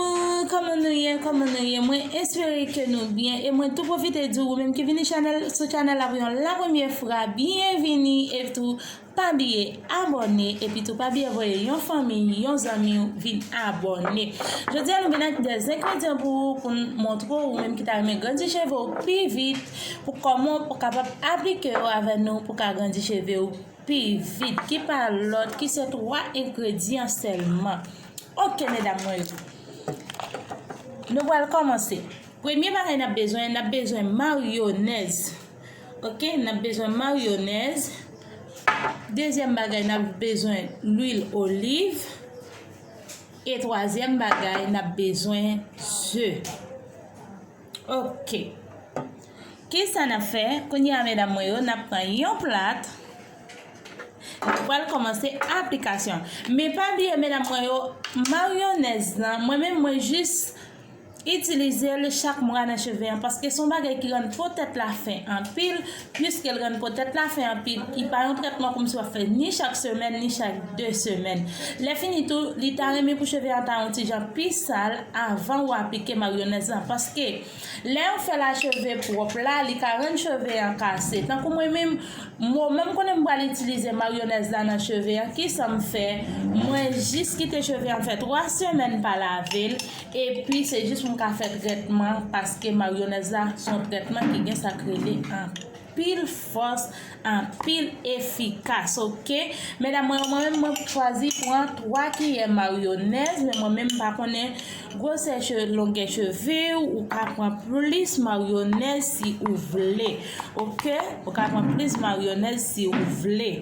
Bonjour kòman nou ye kòman nou ye mwen espere ke nou byen e mwen tou pwofite di ou menm ki vini chanèl sou chanèl la pou yon la premye fra byen vini e tou pa bliye abòne e pi tou pa bliye voye yon fanmi yon zanmi ou vin abòne jodi a nou vin ak de zengredyan pou ou pou nou montre ou menm ki ta renmen grandi cheve ou pi vit pou kòman ou kapab aplike yo avè nou pou ka grandi cheve ou. Pi vit, ki pa lòt, ki se 3 engredyan sèlman. Ok medam mwen yo. Nou pral kòmanse. Premye bagay n ap bezwen, n ap bezwen maryonèz. Ok, n ap bezwen maryonèz. Dezyèm bagay, n ap bezwen lwil oliv. E twazyèm bagay, n ap bezwen ze. Ok Kisa nap fè kounye a medam mwen yo nap pran yon plat nou pral kòmanse aplikasyon men pa bliye medam mwen yo maryonèz lan mwen menm mwen jis itilizel chak mwa nan cheve an paske son bagay ki rann po tèt la fen anpil Piske l rann po tèt la fen anpil, li pa yon trètman kòmsi w ap fè ni chak semèn ni chak de semèn. Lèfini tou, li ta renmen pou cheve a ta yon ti jan pi sal anvan ou aplike maryonèz lan paske lè yon fè la cheve pwòp la li ka rann cheve an kase. Tankou mwen menm, moman m konnen m pral itilize maryonèz la nan cheve an kisa m fè, mwen jis kite cheve an fè 3 semèn pa lave l Epi se jis mwen ka fè trètman paske maryonèz la se yon trètman ki gen sak rele anpil fòs anpil efikas ok medam mwen yo mwen menm mwen chwazi pran 3 kiyè maryonèz men mwen menm pa konnen gwosè cheve longè cheve ou ka pran plis maryonèz si ou vle ok ou ka pran plis maryonèz si ou vle.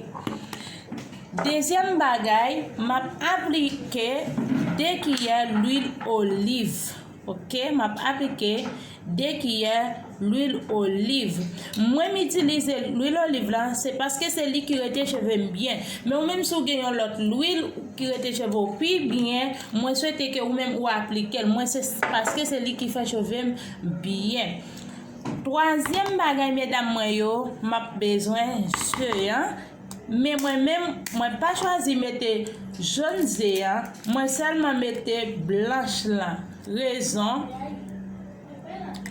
Dezyèm bagay, m ap aplike 2 kiyè lwil oliv. Ok, m ap aplike 2 kiyè lwil oliv. Mwen m itilize lwil oliv la, se paske se li ki rete cheve m byen. Men ou menm si w gen yon lòt lwil ki rete cheve w pi byen, mwen swete ke ou menm ou aplike l. Mwen se paske se li ki fè cheve m byen. Twazyèm bagay medam mwen yo, m ap bezwen ze an. Men mwen menm mwen pa chwazi mete jon ze an mwen sèlman mete blanch lan rezon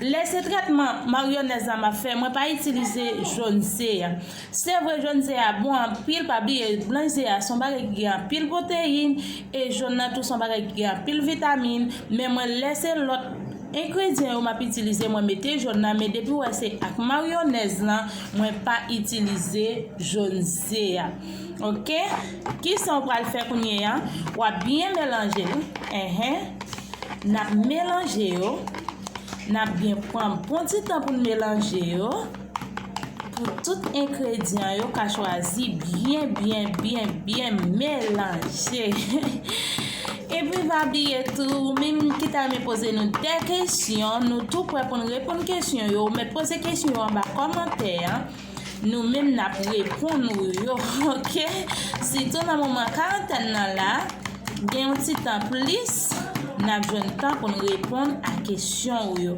lè se trètman maryonèz la map fè mwen pa itilize jon ze an se vre jon ze a bon anpil pa bliye blanch ze a son bagay ki gen anpil pwoteyin e jon nan tou son bagay ki gen anpil vitamin men mwen lè se lòt Engredyan yo map itilize mwen mete jaune nan men depiw wè se ak maryonèz lan mwen pa itilize jaune ze a ok kisaw pral fè kounyea wap byen melanjel enhen nap melanje yo nap byen pran bon ti tan poun melanje yo. Pou tout engredyan yo ka chwazi byen byen byen byen melanje. Epi pa bliye tou ou menm ki ta renmen poze nou de kesyon nou tou prè pou n reponn kesyon yo men poze kesyon yo anba kòmantè an nou menm n ap reponn ou yo ok sitou nan moman karantèn nan la gen yon ti tan plis n ap jwenn tan pou n reponn a kesyon ou yo.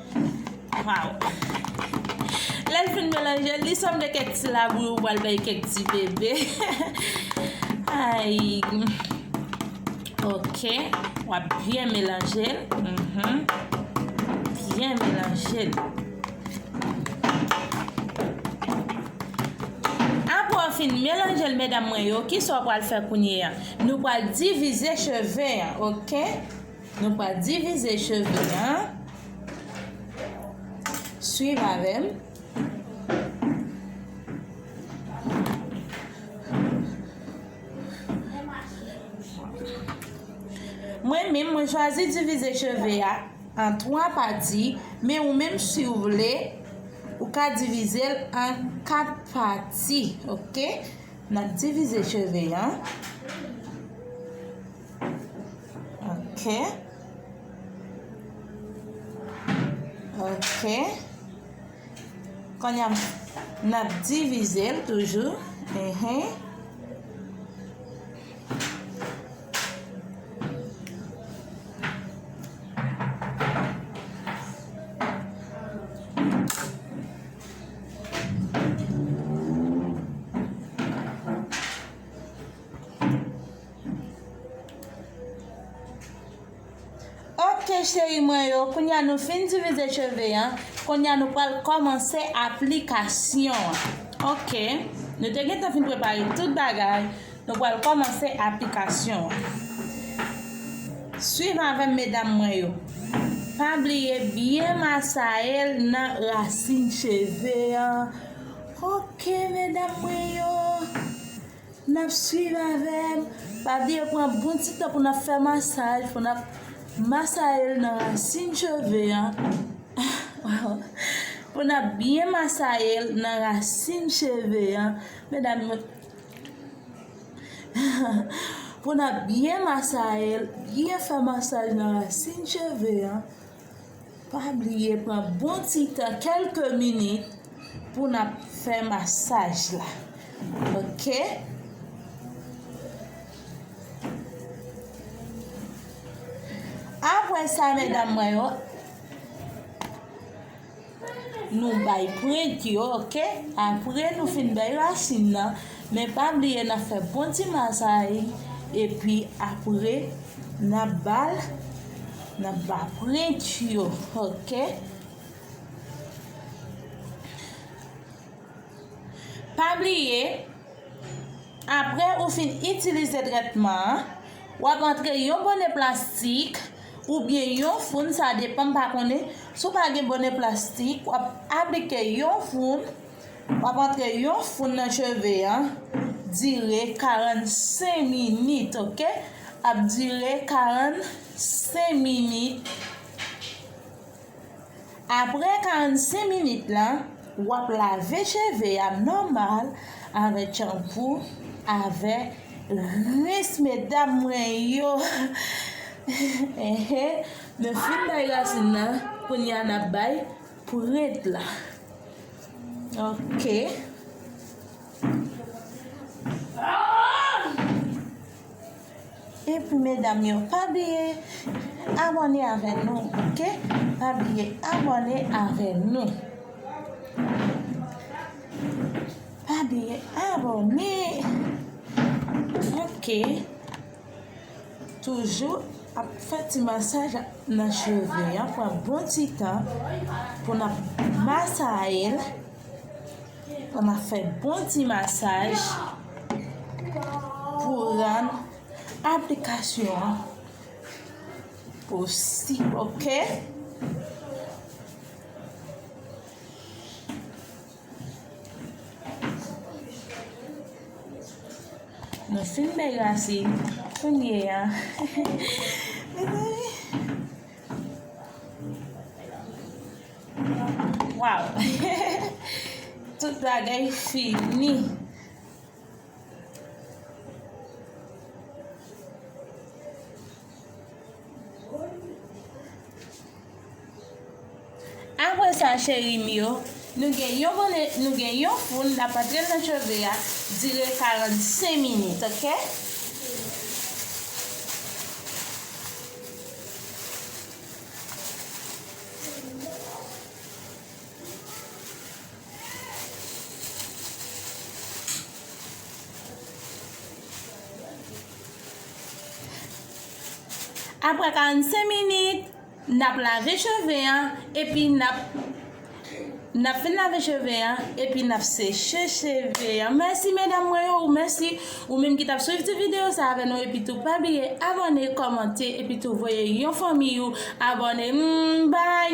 Waw Lèl fin melanjel li sanble kèk ti labouyi ou pral bay kèk ti bebe Ayy Ok wap byen melanjel Byen melanjel Apre ou fin melanjel medam mwen yo kisa ou pral fè kounye a Nou pral divize cheve an ok. Nou pral divize cheve an. Swiv avè m. Mwen menm, mwen chwazi divize cheve a an 3 pati, men ou menm si ou vle, ou ka divize l an 4 pati, ok? N ap divize cheve an. Ok. Ok. Konya n ap divize l toujou. Ehe. Ok cheri mwen yo, kounye a nou fin divize cheve an, kounye a nou pral kòmanse aplikasyon an. Ok, nou te gen tan fin prepare tout bagay, nou pral kòmanse aplikasyon an. Swiv avèm medam mwen yo. Pa bliye byen masayel nan rasin cheve an. Ok medam mwen yo. Nap swiv avèm, pa bliye pran bon ti tan pou nap fè masaj, pou nap masayel nan rasin cheve an, pou nap byen masayel nan rasin cheve an, medam mwen, pou nap byen masayel, byen fè masaj nan rasin cheve an. Pa bliye pran bon ti tan kelke minit pou nap fè masaj la ok. Aprè sa medam mwen yo. Nou bay prent yo ok apre nou fin bay rasin nan men pa bliye nap fè bon ti masay epi apre nap bal nap ba prent yo ok pa bliye apre ou fin itilize trètman an wap antre yon bonè plastik ou byen yon foun sa depan m pa konnen si w pa gen bonè plastik w ap aplike yon foun w ap antre yon foun nan cheve an dire 45 minit ok ap dire 45 minit. Aprè 45 minit la wap lave cheve a nòmal avèk chanpou avè rins medam mwen yo enhen nou fin bay rasin nan kounya nap bay prent la ok. Epi medam yo pa bliye abòne avè nou ok pa bliye abòne avè nou pa bliye abòne ok toujou ap fè ti masaj nan cheve an pran bon ti tan pou nap masayel. An ma fè bon ti masaj pou ran aplikasyon an posi ok. Nou fin bèy rasi kounye a. Waw tout bagay fini. Apre sa cheri m yo nou gen yon bone nou gen yon foun nap antre l nan cheve a dire 45 minit ok. Aprè 45 minit, nap lave cheve an epi nap. Nap fin lave cheve an epi nap seche cheve an mèsi medam mwen yo ou mèsi ou menm ki tap swiv ti video sa avè nou epi tou pa bliye abòne kòmante epi tou voye yon fanmiy ou abòne m baay.